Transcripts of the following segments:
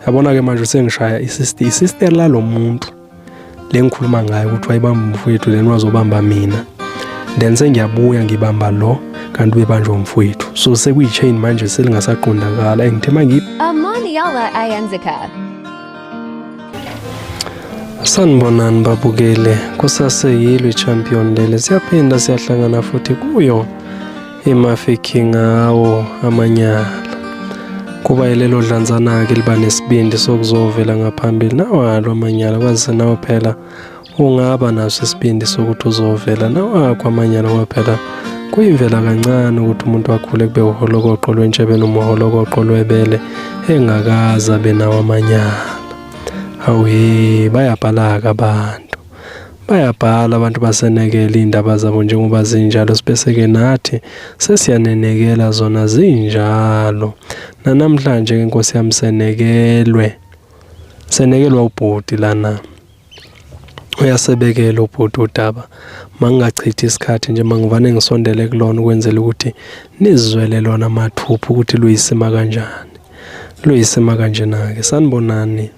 yabona ke manje usengishaya isister isister lalo muntu le ngikhuluma ngayo ukuthi wayibamba umfowethu then wazobamba mina then sengiyabuya ngibamba lo kanti ubebanjwa umfowethu so sekuyi-chain manje selingasaqondakala engithe mangiphi amaniyala ayenzeka sanibonani babukele kusaseyilwe champion lele siyaphinda siyahlangana futhi kuyo emafikhi ngawo amanyala kuba yilelo dlanzana-ke liba nesibindi sokuzovela ngaphambili nawalo amanyala kwazise nawo phela ungaba naso isibindi sokuthi uzovela nawakho amanyala ngoba phela kuyimvela kancane ukuthi umuntu akhule kube uholokoqo lwentshebe noma uholokoqo lwebele engakaze abe nawo amanyala awuye bayabhalaka abantu Bayabhala abantu basenekela iy'ndaba zabo njengoba zinjalo sibese-ke nathi sesiyanenekela zona zinjalo. Nanamhlanje-ke Nkosi yami senekelwe, senekelwa ubhuti lana. Uyasebekela ubhuti udaba, mangingachithi isikhathi nje mangivane ngisondele kulona ukwenzela ukuthi nizizwele lona mathupha ukuthi luyisima kanjani. Luyisima kanjena-ke, sanibonani.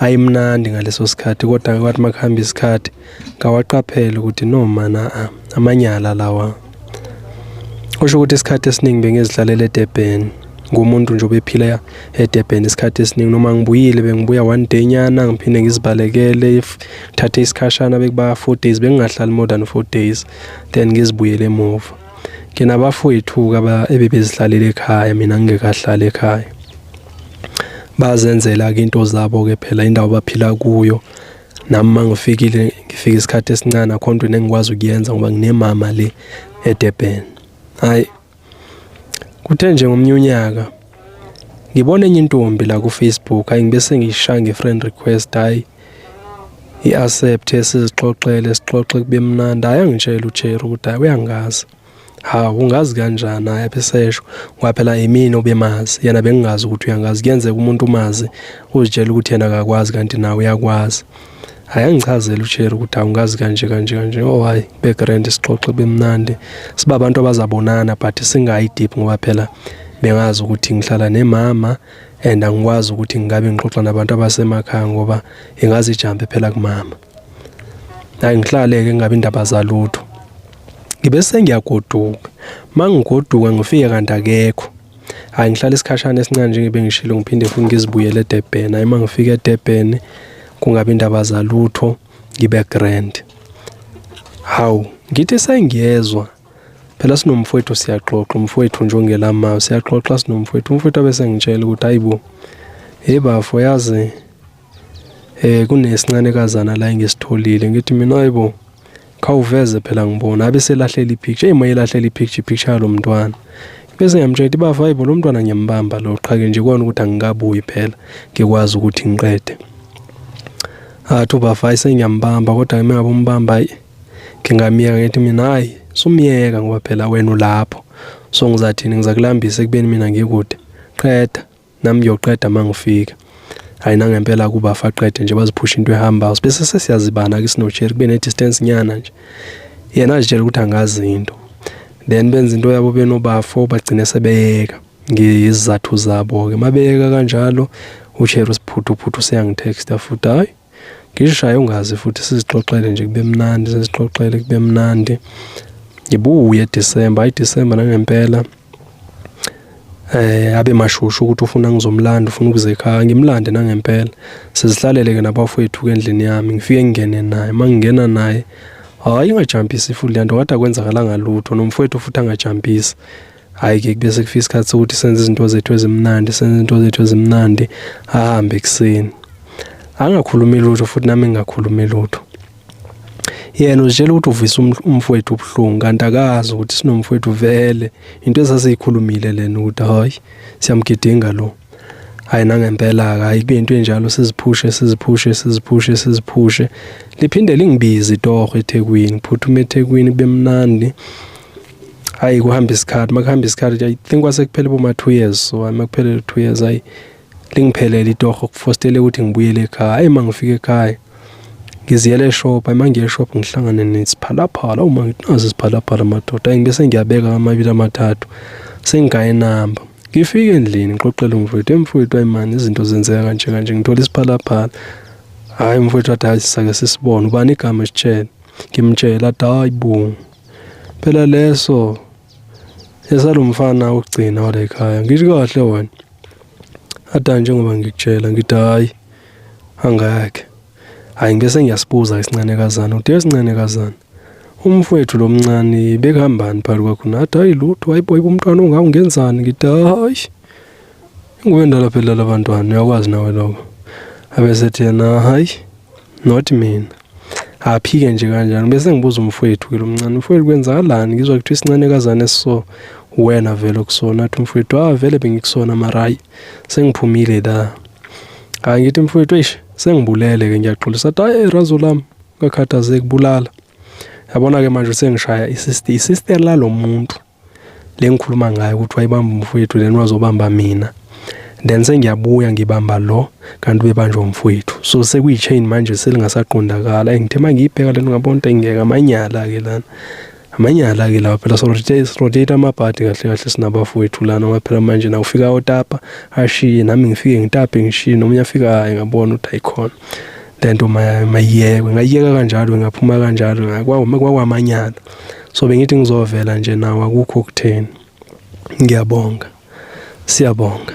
ayimnandi ngaleso sikhathi kodwa ke kwathi makuhamba isikhathi ngawaqaphela ukuthi no mana ah, amanyala lawa kusho ukuthi isikhathi esiningi bengizidlalela eDurban ngumuntu nje obephila eDurban isikhathi esiningi noma ngibuyile bengibuya one day nyana ngiphinde ngizibalekele if thathe isikhashana bekuba 4 days bengingahlali more than 4 days then ngizibuyele emuva ngina bafowethu ke aba ebebezihlalele ekhaya mina ngingekahlali ekhaya bazenzela ke into zabo ke phela indawo baphila kuyo nami mangifikile ngifika isikhathi esincane akho nto engikwazi ukuyenza ngoba nginemama le eDurban hayi kuthe nje ngomnye unyaka ngibona enye intombi la ku Facebook hayi ngibe sengishaya nge friend request hayi i accept sizixoxele sixoxe kube mnandi hayi angitshela uJerry ukuthi hayi uyangazi ha ungazi kanjani hayi abesesho ngoba phela imina obemazi yena bengingazi ukuthi uyangazi kuyenzeka umuntu umazi uzitshela ukuthi yena akakwazi kanti nawe uyakwazi hayi angichazele usheri ukuthi awungazi kanje kanje kanje oh hayi begrand sixoxe bemnandi siba abantu abazabonana but singayi deep ngoba phela bengazi ukuthi ngihlala nemama and angikwazi ukuthi ngingabe ngixoxa nabantu abasemakhaya ngoba ingazi ijambe phela kumama hayi ngihlale ke ngabe indaba zalutho Ngibe sengiyagoduka. Mangigoduka ngifike kanti akekho. Hayi ngihlala isikhashana esincane njengoba ngishilo ngiphinde futhi ngizibuyele eDurban. Hayi mangifika eDurban kungabe indaba zalutho ngibe grand. Hawu ngithi sengiyezwa phela sinomfowethu siyaxoxa umfowethu nje ongelama siyaxoxa sinomfowethu umfowethu abese ngitshela ukuthi hayibo hey bafo yazi eh kunesincane kazana la engisitholile ngithi mina ayibo khawuveze phela ngibona abe selahlela ipicture hey mayelahlela ipicture ipicture yalo mntwana bese ngiyamtshela ukuthi bafo ayibo lo mntwana ngiyambamba lo qhake nje kwana ukuthi angikabuyi phela ngikwazi ukuthi ngiqede athu bafo ayi sengiyambamba kodwa ke mengabe umbamba ayi ngingamyeka ngithi mina hayi sumyeka ngoba phela wena ulapho so ngizathini ngizakulambisa ekubeni mina ngikude qeda nami ngiyoqeda uma ngifika hayi nangempela kuba faqede nje baziphusha into ehamba bese sesiyazibana ke sinojeri kube ne-distance nyana nje yena azitshela ukuthi angazi into then benza into yabo benobafo bagcine sebeyeka ngezizathu zabo-ke uma beyeka kanjalo usheri usiphuthuphuthu useyangithexta futhi hhayi ngishaye ungazi futhi sizixoxele nje kube mnandi sizixoxele kube mnandi ngibuye December ayi December nangempela eh abe mashushu ukuthi ufuna ngizomlanda ufuna ukuze ekhaya ngimlande nangempela sizihlalele ke nabafowethu ke endlini yami ngifike ngingene naye mangingena naye hayi ingajampisi futhi lento kade akwenzakalanga lutho nomfowethu futhi angajampisi hhayi ke kube sekufika isikhathi sokuthi senze izinto zethu ezimnandi senze izinto zethu ezimnandi ahambe ekuseni angakhulumi lutho futhi nami ngingakhulumi lutho yena uzitshela ukuthi uvisa um-, umfowethu ubuhlungu kanti akazi ukuthi sinomfowethu vele into esasiyikhulumile lena ukuthi hhayi siyamgidinga lo hayi nangempela hayi kube into enjalo siziphushe siziphushe siziphushe siziphushe liphinde lingibizi itoho eThekwini phuthume eThekwini bemnandi hayi kuhamba isikhathi makuhamba isikhathi i think kwase kuphele boma 2 years so makuphele 2 years hayi lingiphelele itoho kufostele ukuthi ngibuyele ekhaya hayi mangifika ekhaya ngiziyele eshop uma ngiye eshop ngihlangane nesiphalaphala uma nginazo isiphalaphala madoda ayi ngibese ngiyabeka amabili amathathu sengigaye inamba Ngifike endlini ngixoxele umfowethu, emfowethu ayi mani izinto zenzeka kanje kanje ngithola isiphalaphala. Hayi umfowethu wathi hayi sisake sisibone ubani igama esitshele. Ngimtshela athi hayi bo. Phela leso esalomfana ukugcina wale ekhaya ngisho kahle wena. Athi njengoba ngikutshela ngithi hayi angeke. Hayi ngibe sengiyasibuza isincanekazana ude isincanekazana umfowethu lo mncane bekuhambani phakathi kwakho nathi hayi lutho hayibo yibo umntwana ongawo ngenzani ngithi hayi inguwe ndala phela labantwana uyakwazi nawe lokho abesethi yena hayi not mina aphike nje kanjani bese ngibuza umfowethu ke lo mncane umfowethu kwenzakalani ngizwa kuthiwa isincanekazane so wena vele okusona athi umfowethu ah vele bengikusona marayi sengiphumile la hayi ngithi mfowethu eish sengibulele ke ngiyaxolisa athi hayi razo lami ngakhathazeki bulala yabona ke manje sengishaya isister isister lalomuntu lengikhuluma ngayo ukuthi wayibamba umfowethu lena wazobamba mina then sengiyabuya ngibamba lo kanti ubebanjwa umfowethu so sekuyi-chain manje selingasaqondakala engithe uma ngiyibheka lento ngabona ukuthi engingeka amanyala-ke lana amanyala ke lawa phela sirotate amabhadi kahle kahle sinabafowethu lana ngoba phela manje na ufika otapa ashiye nami ngifike ngitape ngishiye nomunye afika hayi ngabona ukuthi ayikhona lento mayiyekwe ngayiyeka kanjalo ngaphuma kanjalo kwakwamanyala so bengithi ngizovela nje nawo akukho okutheni ngiyabonga siyabonga